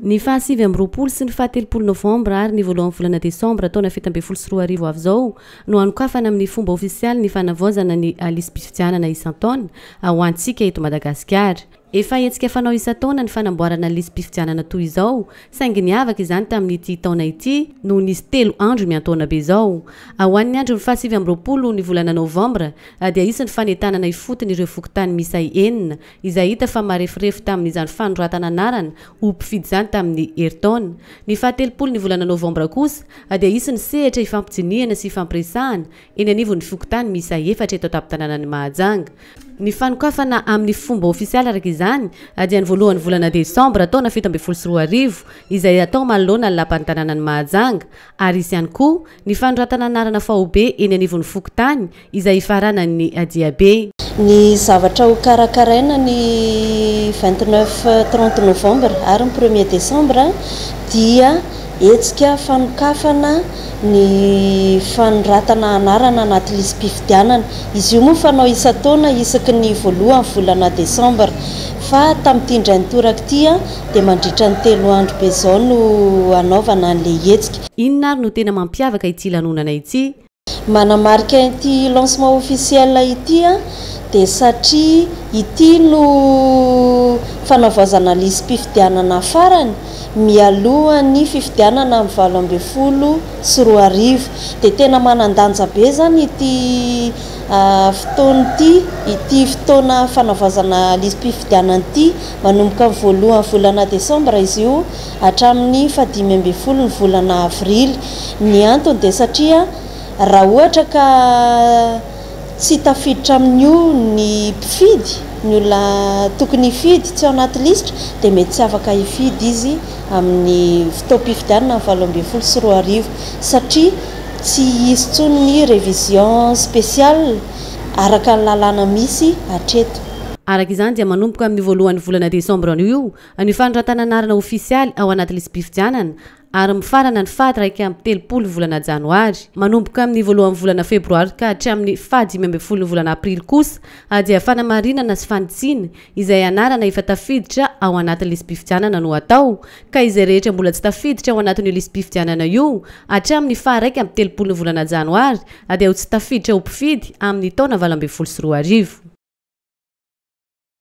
Ny faha sivy amby roapolo sy ny faha telopolo novambra ary ny voalohan'ny volana desambra taona fito ambin'ny folo sy roa arivo avy izao no hanokafana amin'ny fomba ofisialy ny fanavaozana ny lisi-pifidianana isan-taona ho antsika eto Madagasikara. Efa hetsika fanao isan-taona ny fanamboarana ny lisi-pifidianana toy izao saingy niavaka izany tamin'ity taona ity no nisy telo andro miantaona be izao. Ho an'ny andron'ny faha sivy amby roapolo ny volana novambra dia hisy ny fanentanana ifotony ireo fokontany miisa enina izay hita fa mareforefo tamin'izany fanoratana anarana ho mpifidy izany tamin'ny herintaona. Ny fahatelopolo ny volana novambra kosa dia hisy ny sehatra hifampijinihana sy hifampiresahana eny anivon'ny fokontany miisa efatra eto an-tampon-tanànan'i Mahajanga. Ny fanokafana amin'ny fomba ofisialy araka izany dia ny voalohan'ny volana desambra taona fito ambin'ny folo sy roa arivo, izay hatao manoloana ny lapan'ny tanànan'i Mahajanga, ary hisy ihany koa Ny fanoratana anarana faobe eny anivon'ny fokontany izay ifaranan'ny Adiabe. Ny zavatra ho karakaraina ny vingt neuf, trente novembre ary ny premier decembre dia hetsika fanokafana ny fanoratana anarana anaty lisi-pifidianana. Izy io moa fanao isan-taona isaky ny voalohan'ny volana decembre fa tamin'ity indray nitoraka ity dia mandritra ny telo andro be izao no hanaovana an'ilay hetsika. Inona ary no tena mampiavaka ity lanonana ity? Manamarika ity lancement officiel ity aho dia satria ity no fanavaozana lisi-pifidianana farany mialohan'ny fifidianana amin'ny valo ambin'ny folo sy roa arivo. Dia tena manan-danja be izany ity fotoana ity, ity fotoana fanavaozana lisi-pifidianana ity, manomboka ny voalohan'ny volana desambra izy io. hatramin'ny fahadimy ambin'ny folo ny volana avrily. Ny antony dia satria raha ohatra ka tsy tafiditra amin'io ny mpifidy, ny olona tokony hifidy tsy ao anaty lisitra dia mety tsy afaka hifidy izy amin'ny fotoam-pifidianana ny valo ambin'ny folo sy roa arivo satria tsy hisy intsony ny révision spéciale araka ny lalàna misy hatreto. Araka izany dia manomboka amin'io voalohan'ny volana desambra io Ny fanoratana anarana ofisialy ao anaty lisi-pifidianana ary mifarana ny faha iraika amby telopolo volana janoary. Manomboka amin'ny voalohan'ny volana febroary ka hatramin'ny faha dimy ambin'ny folon'ny volana aprily kosa dia fanamarinana sy fanitsiana izay anarana efa tafiditra ao anatin'ny lisi-pifidianana no atao ka izay rehetra mbola tsy tafiditra ao anatin'io lisi-pifidianana io hatramin'ny faha iraika amby telopolon'ny volana janoary dia ho tsy tafiditra ho mpifidy amin'ny taona valo ambin'ny folo sy roa arivo.